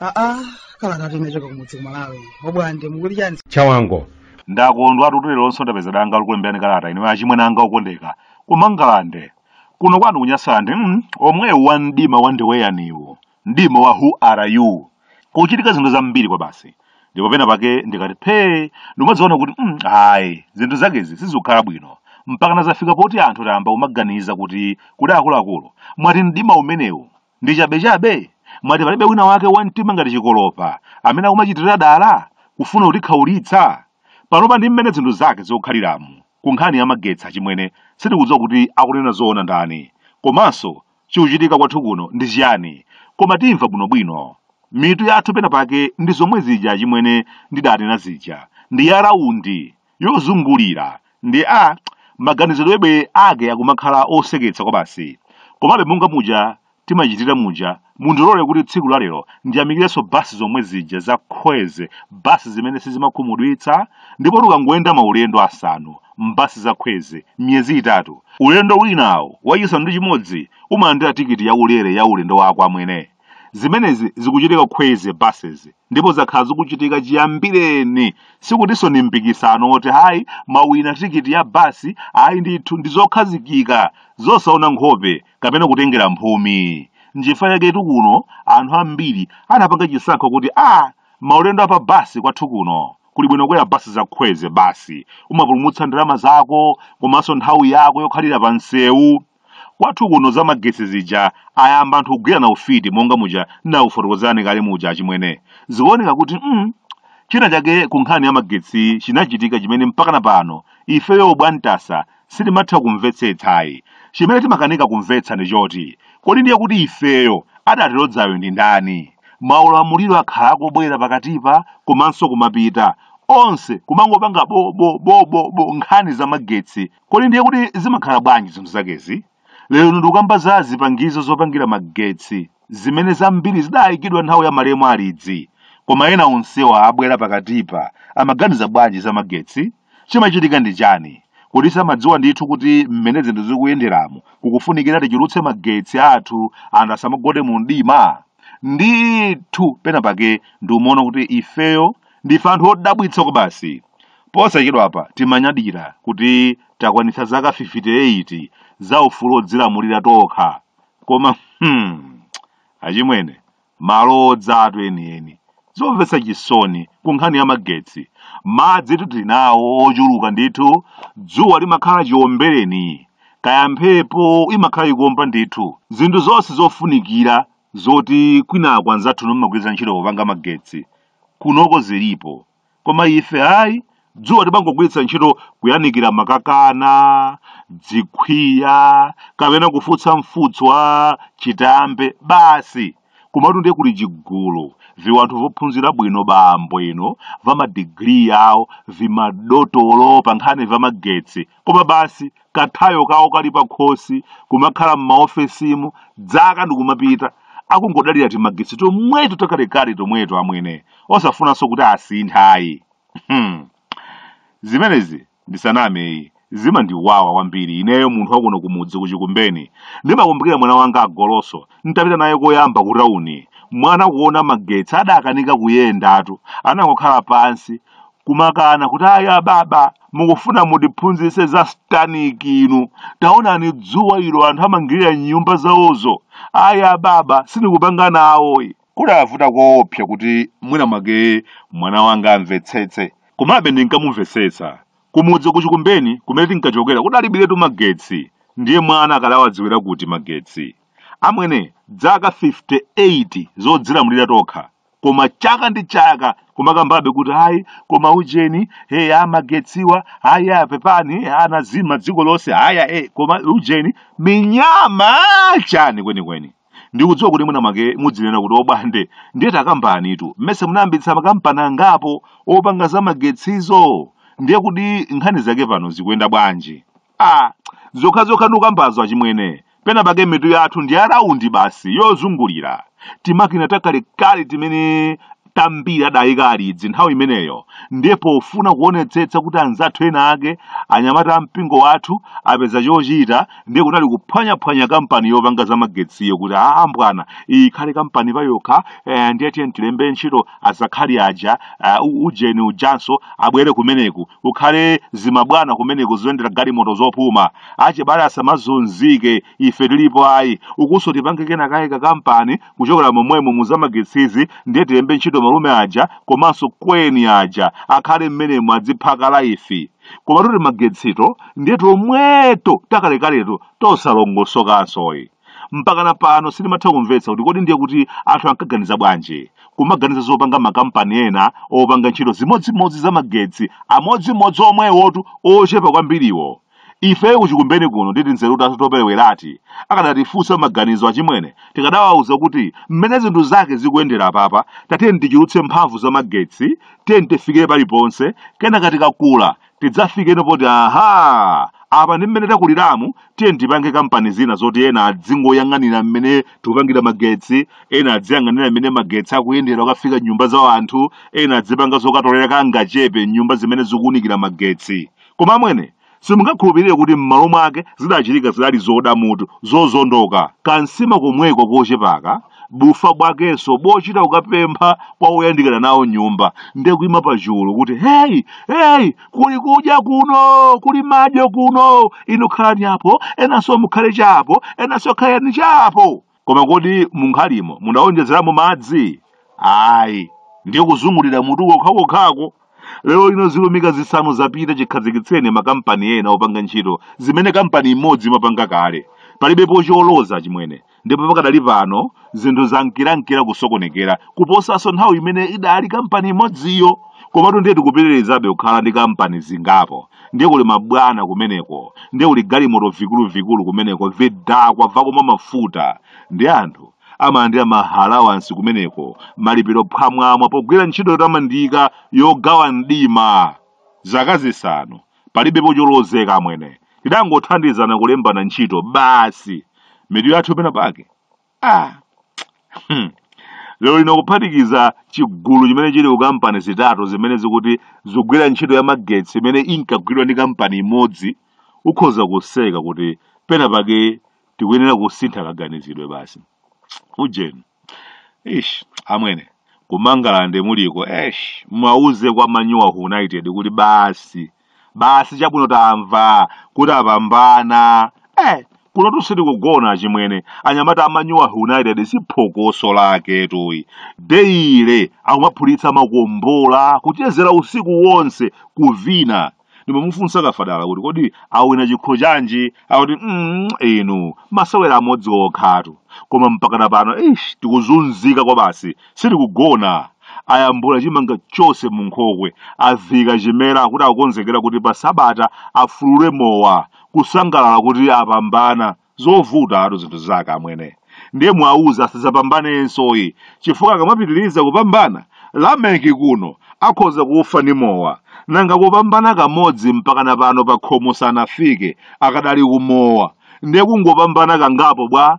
aa kalata inachoka kumudzi ku malawi obwande mukuti chani chawango ndakondwa kuti leronso ndapeza danga lokulemberani kalata inu achimwene anga okondeka ku mangalande kuno kwanu ku nyasalande mm, omwewu wa mdima wa ndiweyaniwo mdima wa who are you kuchitika zinthu zambiri kwabasi ndipo pena pake ndikati phee ndimadziona kuti mm, ayi zinthu zakezi sizikukhala bwino mpaka nazafika poti anthu tayamba kumaganiza kuti kuli akuluakulu mwati mdima umenewu ndi chabechabe mwati palibe wina wake wa mtima ngati chikolopa amene akumachitira dala kufuna kutikhaulitsa panopa ndi mmene zinthu zake zikukhaliramu ku nkhani ya magetsi achimwene sitikudziwa kuti akunena zoona ndani komanso Chikuchitika kwathu kuno ndi chiyani? Koma timva bwinobwino. Mitu yathu pena pake ndi zomwe zija achimwene ndidanena zija. Ndi ya rawundi, yozungulira. Ndi a, maganizidwebe ake akumakhala oseketsa kwabasi. Komabe monga muja timachitira muja, mundilole kuti tsiku la lero ndiyamikirenso basi zomwe zija za Kwezy, basi zimene sizimakhumudwitsa, ndipotu ukangoyenda maulendo asanu, m'basi za Kwezy m'miyezi itatu. Ulendo winawo, wachisanu ndi chimodzi, umalandira tikiti yaulere ya ulendo wako amwene. Zimenezi zikuchitika Kwezy buses ndipo zakhala zikuchitika chiyambireni. Sikutinso ndi mpikisano woti ayi mwawina tikiti ya basi ayi ndithu ndi zokhazikika zosaona nkhope kapena kutengera mphumi. Nchifukwa chaketu kuno anthu ambiri anapanga chisankho kuti a maulendo a pa basi kwathu kuno kuli bwino kwera basi za Kwezy basi umapulumutsa ndalama zako komanso nthawi yako yokhalira pa msewu kwathu kuno za magetsi zija ayamba anthu kugwirana ufiti monga muja ndinakufotokozerani kale muja achimwene zikuoneka kuti mm, china chake ku nkhani ya magetsi chinachitika chimene mpakana pano ifeyo bwantasa sitimatha kumvetsetsa ayi. Chimene timakanika kumvetsa ndi choti, kodi ndiye kuti ifeyo adatilodzayo ndi ndani? Maulamuliro akhala akubwera pakatipa komanso kumapita, onse kumangopanga bo bo bo bo bo nkhani za magetsi, kodi ndiye kuti zimakhala bwanji zinthu zakezi? Lero ndikukamba za zipangizo zopangira magetsi, zimene zambiri zidaikidwa nthawi ya malemu Alidzi. Koma ena onsewa abwera pakatipa amaganiza bwanji za magetsi? Chimachitika ndi chani? Kodi samadziwa ndithu kuti mmene zinthu zikuyenderamu kukufunikira tichulutse magetsi athu anthu asamagone mu mdima? Ndithu pena pake ndiumaona kuti ifeyo ndife anthu odabwitsa kwabasi. Posachedwapa timanyadira kuti takwanitsa zaka 58 za ufulu wodzilamulira tokha. Koma hmm, achimwene, malo odzatu enieni zomvetsa chisoni ku nkhani ya magetsi madzi tili nawo ochuluka ndithu dzuwa limakhala chiombereni kaya mphepo imakhala ikuomba ndithu zinthu zonse zofunikira zoti kwinako anzathuno amagwiritsa ntchito popanga magetsi kunoko zilipo koma ife ayi dzuwa timangogwiritsa ntchito kuyanikira makakana dzikhwiya kapena kufutsa mfutso wa chitambe basi komatu ndiye kuli chigulu viwanthu vophunzira bwino bwino vamadigiri yawo vimadotolo pa nkhani vamagetsi koma basi kathayo kawo kali pakhosi kumakhala m'maofesimu dzaka ndikumapita akungodalira timagetsi tomweto takalekale tomweto amwene osafunanso kuti asinthe ayi Hmm. zimenezi ndisaname ayi zimandiwawa kwambiri ineyo munthu wakuno kumudzi kuchikumbeni ndimakumbukira mwana wanga agoloso ntapita naye koyamba ku tauni mwana kuona magetsi adakanika kuyendatu anangokhala pansi kumakana kuti ayi ababa mukufuna mutiphunzitse za satanic inu taonani dzuwa ilo anthu amangirira m'nyumba zawozo ayi ababa sindikupanga nawoyi kudavuta koopsa kuti mwina mwake mwana wanga amvetsetse komabe ndinkamumvetsetsa kumudzi kuchikumbeni kumene tinkachokera kudalibiretu magetsi ndiye mwana akadawadziwira kuti magetsi amwene dzaka 58 zodzilamulira tokha koma chaka ndi chaka kumakambabe kuti ayi koma ujeni hey amagetsiwa ayi apepani anazima dziko lonse ayi hey koma ujeni minyama chani kwenikweni ndikudziwa kuti mwina mwake mudzinena kuti obwande ndiye takambanitu mmesa munayambitsa makampani angapo opanga za magetsizo ndiye kuti nkhani zake pano zikuyenda bwanji ah zokhazokha ndikukambazo achimwene pena pake mitu yathu ndi ya raundi basi yozungulira timakina takalekale timene tambiri adayika alidzi nthawi imeneyo ndiye pofuna kuonetsetsa kuti anzathu ena ake anyamata a mpingo wathu apeza chochita ndiye kunali kuphwanyaphwanya kampani yopanga za magetsiyo kuti a bwana iyi ikhale kampani payokha eh, ndiye tiye tilembe ntchito azakhali aja eh, u- ujeni ujanso abwere kumeneku ukhale zimabwana kumeneku zoyendera galimoto zopuma achibale asamazunzike ife tilipo ayi ukunso tipange kena kake ka kampani kuchokera momwemo muzamagetsizi ndiye tilembe ntchito malume aja komanso kweni aja akhale mmenemo adziphaka laifi koma toti magetsito ndiye tomweto takalekaleto tosalongosokansoyi mpakana pano sindimatha kumvetsa kuti kodi ndiye kuti anthu ankaganiza bwanji kumaganiza zopanga makampani ena opanga ntchito zimodzimodzi za magetsi amodzimodzi omwewotu ochepa kwambiriwo ife kuchikumbeni kuno ndi tinzeru tathu toperewerati akadatifunsa maganizo achimwene tikadawauza kuti mmene zinthu zake zikuyendera apapa tatiyeni tichulukitse mphamvu za magetsi tiyeni tifikire paliponse kenaka tikakula tidzafikeno poti aha apa ndi mmene takuliramu tiyeni tipange kampani zina zoti ena adzingoyang'anira mmene tikupangira magetsi ena adziyang'anira mmene magetsi akuyendera ukafika m'nyumba za anthu ena adzipanga zokatolera kangachepe m'nyumba zimene zikuunikira magetsi Koma amwene, simungakhulupirire kuti m'malo mwake zidachitika zidali zoda mutu, zozondoka. Kansima komweko kochepaka, bufa bwakenso bochita kukapempha kwa oyandikana nawo nyumba, nde kuima pachulu kuti heyi, heyi, kuli kudya kuno, kuli madyo kuno, inu khalani apo, enanso mukhale chapo, enanso khalani chapo. koma kodi munkhalimo mudawonjezeramo madzi ayi ndiye kuzungulira mutu kokhakokhako lero lino zilumika zisanu zapita chikhazikitseni makampani ena opanga ntchito zimene kampani imodzi imapanga kale palibepo choloza achimwene ndipo pakadali pano zinthu zankirankira kusokonekera kuposanso nthawi imene idali kampani imodziyo komatu ndiye tikupitirizabe kukhala ndi kampani zingapo ndiye kuli mabwana kumeneko ndiye kuli galimoto vikuluvikulu kumeneko vidakwa vakumwa mafuta ndi anthu amalandira maalawansi kumeneko malipiro phwamwamwa pogwira ntchito yotamandika yogawa mdima zaka zisanu palibepo cholozeka amwene tidangothandizana kulembana ntchito basi mitu yathu pena pake ah. hmm. lero lino kuphatikiza chigulu chimene chili ku kampani zitatu zimene zikuti zogwira ntchito ya magetsi imene inkagwidwa ndi kampani imodzi ukhoza kuseka kuti pena pake tikuyenera kusintha kaganizidwe basi ujeni ish amwene ku Mangalande muliko esh muwauze a Manyu a United kuti basi basi chabwino tamva kuti apambana eh kuno sitikugona achimwene anyamata a Manyu a United si phokoso lake ili daily akumaphulitsa makombola kuchezera usiku wonse kuvina ndimamufunsa kafadala kuti kodi awina chikho chanji akuti mm, inu masewera amodzi okhatu koma mpakana pano ish tikuzunzika kwabasi sitikugona ayambula chimanga chonse mu nkhokwe aviika chimera akuti akukonzekera kuti pa sabata afulule mowa kusangalala kuti apambana zovutatu zinthu zake amwene ndiye muwauze asadzapambanenso ayi chifukwa akamapitiriza kupambana lameki kuno akhoza kufa ni mowa nanga kupambana kamodzi mpakana pano pa khomo sanafike akadali kumowa ndiye kungopambana kangapo bwa